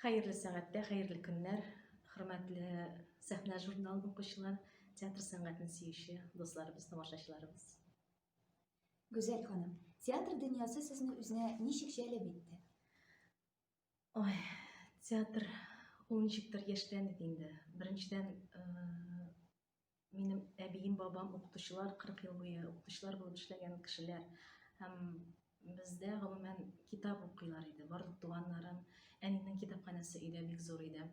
Хәерле сәгатьтә, хәерле көннәр, хөрмәтле сәхнә журнал укучылар, театр сәнгатен сөюче дусларыбыз, тамашачыларыбыз. Гүзәл ханым, театр дөньясы сезне үзенә ничек җәлеп итте? Ой, театр ул ничектер яшьләнде инде. Беренчедән, э, Минем әбием, бабам укытучылар, 40 ел буе укытучылар булып эшләгән кешеләр. Һәм бездә гомумән китап укыйлар иде. Барлык туганнарым, әнинең китапханәсе өйдә бик зур иде.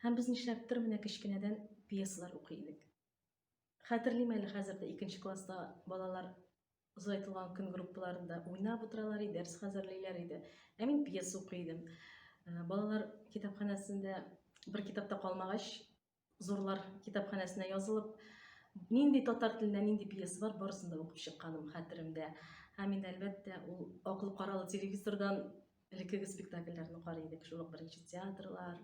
Һәм без нишләптер менә кечкенәдән пьесалар укый идек. Хәтерлим әле хәзер дә икенче класста балалар озайтылган көн группаларында уйнап утыралар иде, дәрес хәзерлиләр иде. Ә мин пьеса укый идем. Э, балалар китапханәсендә бер китапта калмагач, Зурлар китапханәсенә язылып, нинди татар телендә нинди пьеса бар, барысын да укып чыкканым хәтеремдә. Һәм инде әлбәттә, ул аклы каралы телевизордан элеккеге спектакльләрне карый идек. Шул ук беренче театрлар,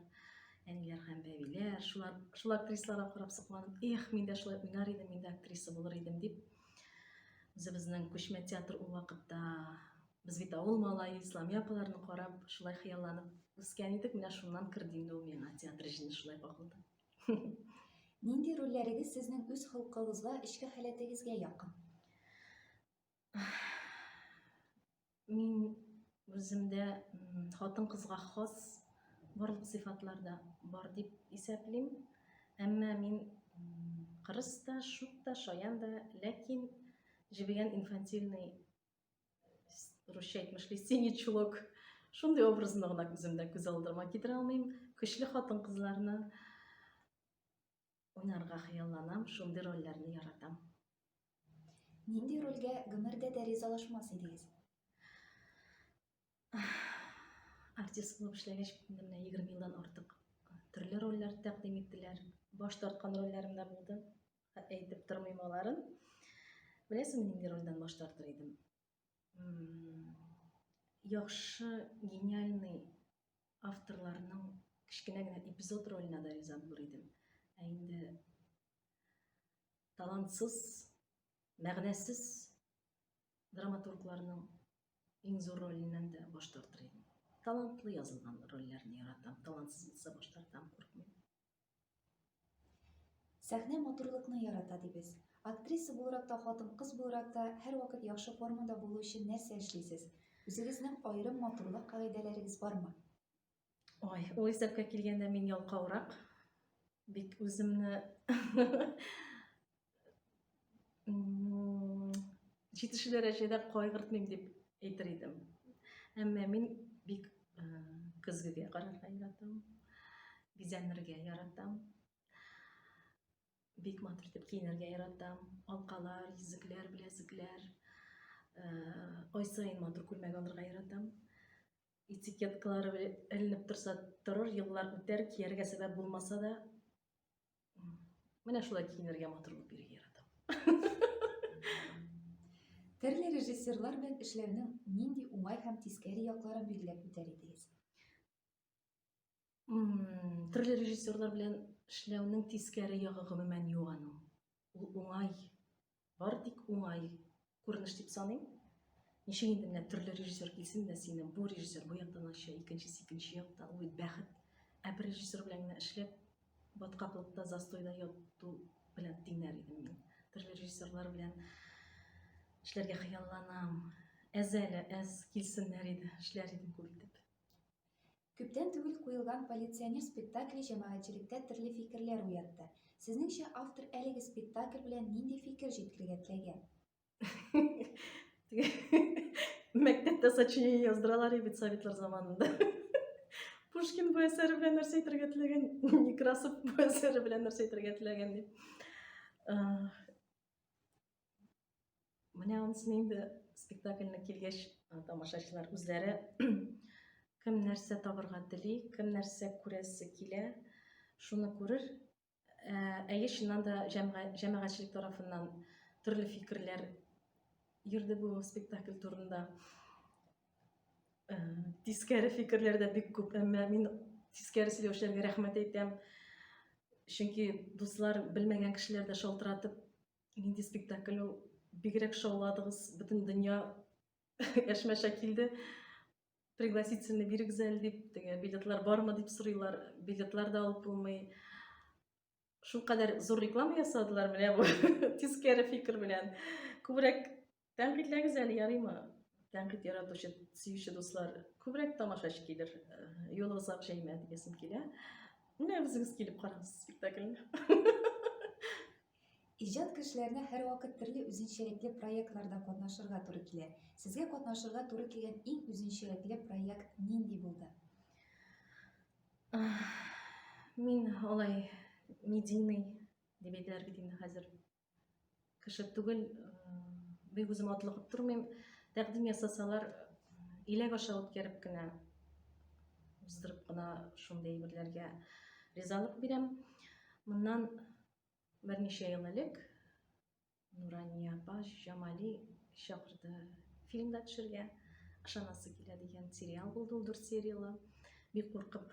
әниләр һәм бәбиләр, шулар, шул актрисаларга карап сокланып, эх, мин дә шулай уйнар идем, мин дә актриса булыр идем дип, үзебезнең күчмә театр ул вакытта Без бит авыл малае, Исламия апаларны карап, шулай хыялланып үскән идек, менә шуннан керде инде ул миңа театр җене шулай кагылды. Нинди рольләрегез сезнең үз холкыгызга, эчке халәтегезгә якын? Мин үземдә хатын кызга хас барлык сыйфатларда бар дип исәплим. Әмма мин кырыс та, шук та, шаян да, ләкин җебегән инфантильный русча әйтмешли синий чулок шундый образны гына күземдә күз алдыма китерә алмыйм көчле хатын кызларны уйнарга хыялланам шундый рольләрне яратам нинди рольгә гомердә дә ризалашмас идегез артист булып эшләгәч менә егерме елдан артык төрле рольләр тәкъдим иттеләр баш тарткан рольләрем дә булды әйтеп тормыйм аларын беләсеңме нинди рольдән баш тартыр идем яхшы гениальный авторларның кечкенә генә эпизод роленә дә риза булыр идем ә инде талантсыз мәгънәсез драматургларның иң зур роленнән дә баш тартыр идем. Талантлы язылган рольләрне яратам, талантсыз булса баш тартам, куркмыйм. Сәхнә матурлыкны ярата дибез. Актриса буларак та, хатын-кыз буларак та һәрвакыт яхшы формада булу өчен нәрсә эшлисез? Үзегезнең аерым матурлык кагыйдәләрегез бармы? Ой, ул исәпкә килгәндә мин ялкаурак. Бик үземне җитешү дәрәҗәдә кайгыртмыйм дип әйтер идем. Әмма мин бик э, көзгегә карарга яратам. Бизәнергә яратам. Бик матур итеп киенергә яратам. Алкалар, йөзекләр, беләзекләр. Э, ай саен матур күлмәк алырга яратам. этикеткалары эленеп торса торыр еллар үтәр кияргә сәбәп булмаса да менә шулай киенергә матур булып йөрергә яратам төрле режиссерлар белән эшләүнең нинди уңай һәм тискәре якларын билгеләп үтәр идегез Төрле режиссерлар белән эшләүнең тискәре ягы гомумән юк аның. Ул уңай, бар тик уңай күренеш дип саныйм. Ничек инде менә төрле режиссер килсен дә сине бу режиссер бу яктан ача, икенчесе икенче якта, ул бит бәхет. Ә бер режиссер белән генә эшләп, баткаклыкта, застойда яту белән тиңнәр идем мин. Төрле режиссерлар белән эшләргә хыялланам. Әз әле, әз килсеннәр иде, эшләр идем күп итеп. Күптән түгел куелган Полиционер спектакле җәмәгатьчелектә төрле фикерләр уятты. Сезнеңчә, автор әлеге спектакль белән нинди фикер җиткергә теләгән? Мәктәптә сочинение яздыралар и бит советлар заманында. Пушкин бу әсәре белән нәрсә әйтергә теләгән? Некрасов бу әсәре белән нәрсә әйтергә теләгән дип. Менә анысыны инде спектакльне килгәч, тамашачылар үзләре кем нәрсә табырга тели, кем нәрсә күрәсе килә, шуны күрер. Ә, әйе, чыннан да җәмәгатьчелек тарафыннан төрле фикерләр йөрде бу спектакль турында. Ә, тискәре фикерләр дә бик күп, әмма мин тискәре сөйләүчеләргә рәхмәт әйтәм. Чөнки дуслар белмәгән кешеләр дә шалтыратып Нинди спектакль ул? Бигрәк шауладыгыз, бөтен дөнья әшмәшә килде. Пригласительный бирегез әле дип, теге билетлар бармы дип сорыйлар. Билетлар да алып булмый. Шул кадәр зур реклама ясадылар менә бу. Тискәре фикер белән. Күбрәк Тәнкыйтьләгез әле, ярыймы? Тәнкыйть яратучы, сөюче дуслар, күбрәк тамашачы килер, юлы озак җәймә дигәсем килә. Менә үзегез килеп карагыз спектакльне. Иҗат кешеләренә һәрвакыт төрле үзенчәлекле проектларда катнашырга туры килә. Сезгә катнашырга туры килгән иң үзенчәлекле проект нинди булды? Мин алай медийный дип әйтәләр бит инде хәзер. кеше түгел бик үзем атлыгып тормыйм тәкъдим ясасалар иләк аша үткәреп кенә уздырып кына шундый әйберләргә ризалык бирәм моннан берничә ел элек нурания апа җамали чакырды фильмда төшергә ышанасы килә дигән сериал булды ул дүрт сериялы бик куркып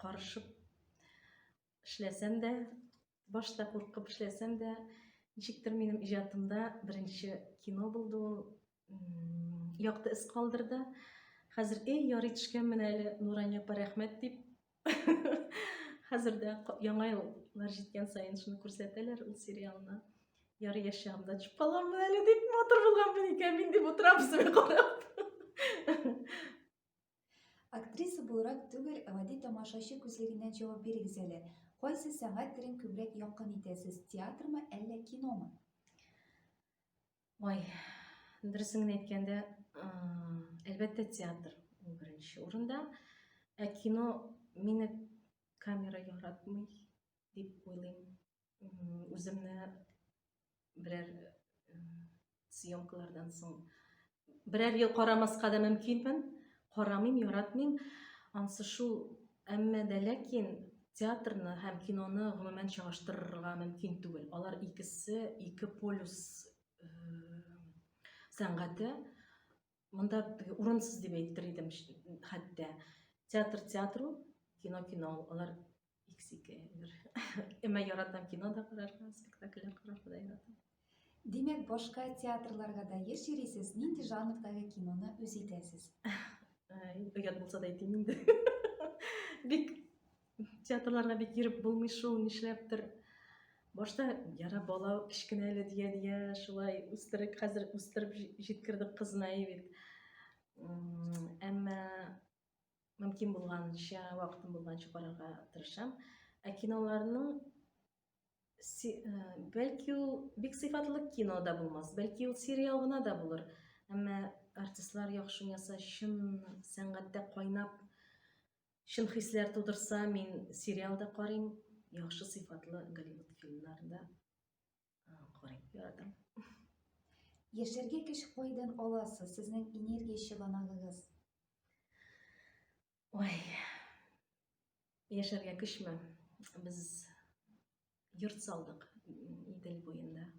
карышып эшләсәм дә, башта куркып эшләсәм дә, ничектер минем иҗатымда беренче кино булды ул, якты эз калдырды. Хәзер эй ярый төшкәнмен әле, Нурания апа рәхмәт дип. Хәзер дә яңа еллар җиткән саен шуны күрсәтәләр ул сериалны. Ярый яшь чагымда төшеп каламын әле дип матур булганмын икән мин дип утырам үземә карап. Актриса буларак түгел, ә гади тамашачы күзлегеннән җавап бирегез әле. Кайсы сәнгать төрен күбрәк якын итәсез, театрмы, әллә киномы? Ой, дөресен генә әйткәндә, әлбәттә, театр ул беренче урында. Ә кино мине камера яратмый дип уйлыйм. үземне берәр съемкалардан соң берәр ел карамаска да мөмкинмен карамыйм яратмыйм ансы шул әмма дә ләкин театрны һәм киноны гомумән чагыштырырга мөмкин түгел алар икесе ике полюс сәнгате Монда урынсыз дип әйтер идем хәтта. Театр театру, кино кино, алар иксике. Әмма яратам кино да карарга, спектакльләр карарга да яратам. Димәк, башка театрларга да еш йөрисез, нинди жанрдагы киноны үз итәсез? Оят булса да әйтим инде. Бик Театрларга бит йөреп булмый шул, нишләптер. Башта яра бала кечкенә әле дия дия шулай үстерек хәзер үстереп җиткердек кызына бит. Әмма мөмкин булганча, вакытым булганча карарга тырышам. Ә киноларның бәлки ул бик сыйфатлы кино да булмас, бәлки ул сериал гына да булыр. Әмма артистлар яхшы яса, чын сәнгатьтә кайнап Чын хисләр тудырса, мин сериал да карыйм, яхшы сыйфатлы Голливуд фильмнарын да карыйм, яратам. Яшәргә көч кайдан аласыз? Сезнең энергия чыганагыгыз? Ой. Яшәргә көчме? Без йорт салдык Идел буенда.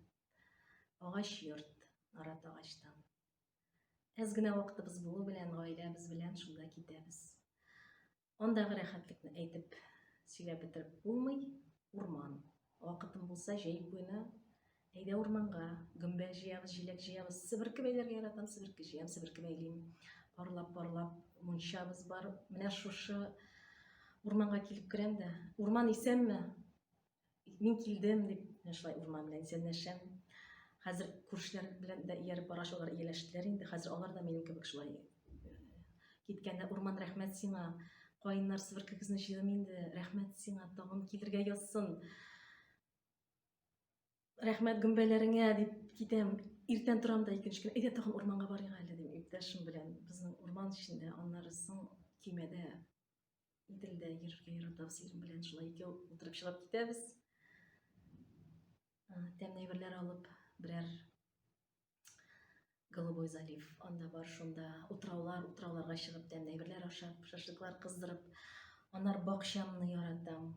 Агач йорт, арат агачтан. Әз генә вакытыбыз булу белән гаиләбез белән шунда китәбез. Андагы рәхәтлекне әйтеп сөйләп бетереп булмый. Урман. Вакытым булса, җәй буена әйдә урманга, гөмбә җыябыз, җиләк җыябыз. Себерке бәйләргә яратам, себерке җыям, себерке бәйлим. Парлап-парлап мунчабыз бар. Менә шушы урманга килеп керәм дә, урман исәнме? Мин килдем дип, менә шулай урман белән исәнләшәм. Хәзер күршеләр белән дә ияреп бара шулар ияләштеләр инде. Хәзер алар да минем кебек шулай э, киткәндә урман рәхмәт сиңа. Каеннар сверкегезне җыйдым инде. Рәхмәт сиңа, тагын килергә язсын. Рәхмәт гөмбәләреңә дип китәм. Иртән торам да икенче көн, әйдә тагын урманга барыйк әле дим, иптәшем белән. Безнең урман эчендә, аннары соң көймәдә Иделдә йөрергә ярата сирем белән шулай икәү утырып чыгып китәбез. Тәмле әйберләр алып, берәр Голубой залив анда бар, шунда утраулар, утрауларга чыгып тәмле әйберләр ашап, шашлыклар кыздырып, анар бакчамны яратам.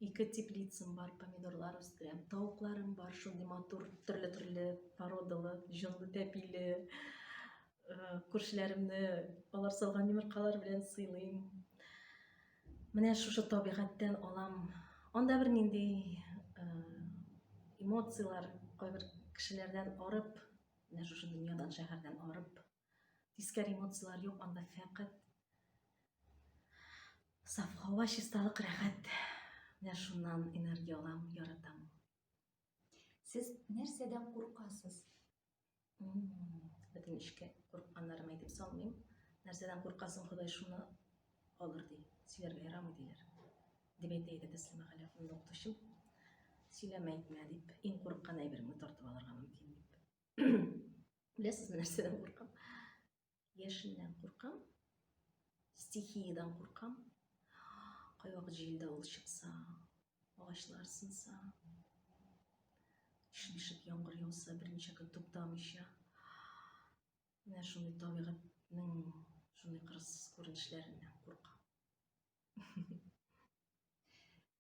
Ике теплицам бар, помидорлар үстерәм. Тавыкларым бар, шундый матур, төрле-төрле породалы, җонлы тәпиле. Э, күршеләремне алар салган йомыркалар белән сыйлыйм. Менә шушы табигатьтән алам. Анда бер нинди э, эмоцияләр кайбер кешеләрдән арып, менә шушы дөньядан, шәһәрдән арып Тискәр эмоциялар юк, анда фәкать саф һава, чисталык, рәхәт. Менә шуннан энергия алам, яратам. Сез нәрсәдән куркасыз? Бөтен эшкә курыкканнарым әйтеп салмыйм. Нәрсәдән куркасың, Ходай шуны алыр ди. Сөйләргә ярамый диләр. Дип әйтә иде Тәслимә Галиевна укытучым. Сөйләмә әйтмә дип, иң курыккан әйбереңне тартып алырга мөмкин дип. Беләсезме, нәрсәдән куркам? Яшеннән куркам, стихиядән куркам. Кайвакыт җил давыл чыкса, агачлар сынса, шешек яңгыр яуса, берничә көн туктамыйча. Менә шундый табигатьнең шундый кырыссыз күренешләреннән куркам.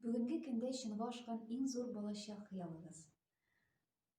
Бүгенге көндә чынга ашкан иң зур балачак хыялыгыз?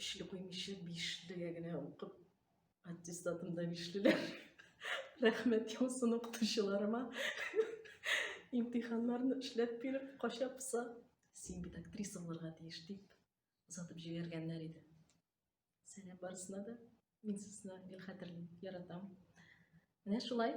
өчле куймыйча биш дөя генә укып аттестатымда бишлеләр рәхмәт яусын укытучыларыма имтиханнарны эшләп биреп кача поса син бит актриса булырга тиеш дип озатып җибәргәннәр иде сәлам барысына да мин сезне гел хәтерлим яратам менә шулай